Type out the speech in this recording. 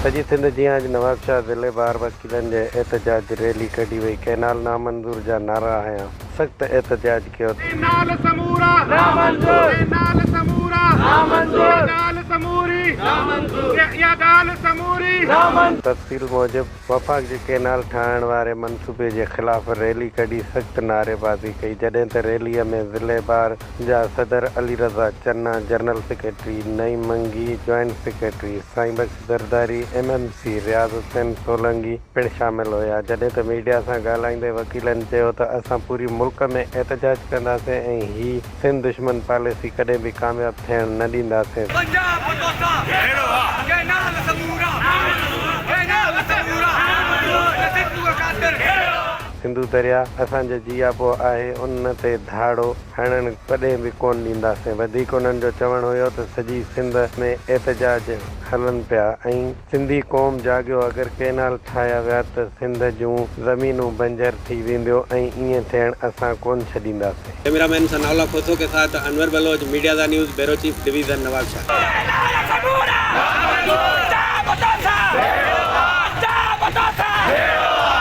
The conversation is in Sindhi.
سڄي سنڌ جيان اڄ نوابشاهه ضلعي ٻاهر وڪيلن جي احتجاج ريلي ڪڍي وئي ڪئنال نامنظور جا نعرا هنيا سخت احتجاج ڪيو ته. ڪئنال سمورا نامنظور ڪئنال سمورا نامنظور اها ڳالهه سموري نامنظور اها ڳالهه سموري نامنظور. تفصيل موجب وفاق جي ڪينال ٺاهڻ واري منصوبي جي خلاف ريلي ڪڍي سخت نعريبازي ڪئي جڏهن ته ريلي ۾ ضلعي بار جا صدر Ali Raza Channa, general secretary Naeem Mangi, joint secretary Sain Bakhsh Zardari, M M C Riaz Hussain Solangi پڻ شامل هيا جڏهن ته ميڊيا سان ڳالهائيندي وڪيلن چيو ته اسان پوري ملڪ ۾ احتجاج ڪنداسين ۽ هي سنڌ دشمن پاليسي ڪڏهن به ڪامياب ٿيڻ نه ڏينداسين. پنجاب توسان ڀيڙو آ جنهن نال سمورا جنهن نال سمورا هن سنڌوء خاطر ڀيڙو آ. سنڌو دريا اسان جو جياپو آهي ان تي ڌاڙو هڻڻ ڪڏهن به ڪون ڏينداسين وڌيڪ انهن جو چوڻ هيو ته سڄي سنڌ ۾ احتجاج هلن پيا ۽ سنڌي قوم جاڳيو اگر ڪينال ٺاهيا ويا ته سنڌ جون زمينون بنجر ٿي وينديو ۽ ائين ٿيڻ اسان ڪون ڇڏينداسين. ڪئميرا مين ثناء الله کوسو ڪي ساٿ انور بلوچ، ميڊيازا news, bureau chief, division Nawabshah. تيري نال سمورا جا پتا سا ڀيڙو آ جا پتا سا ڀيڙو آ.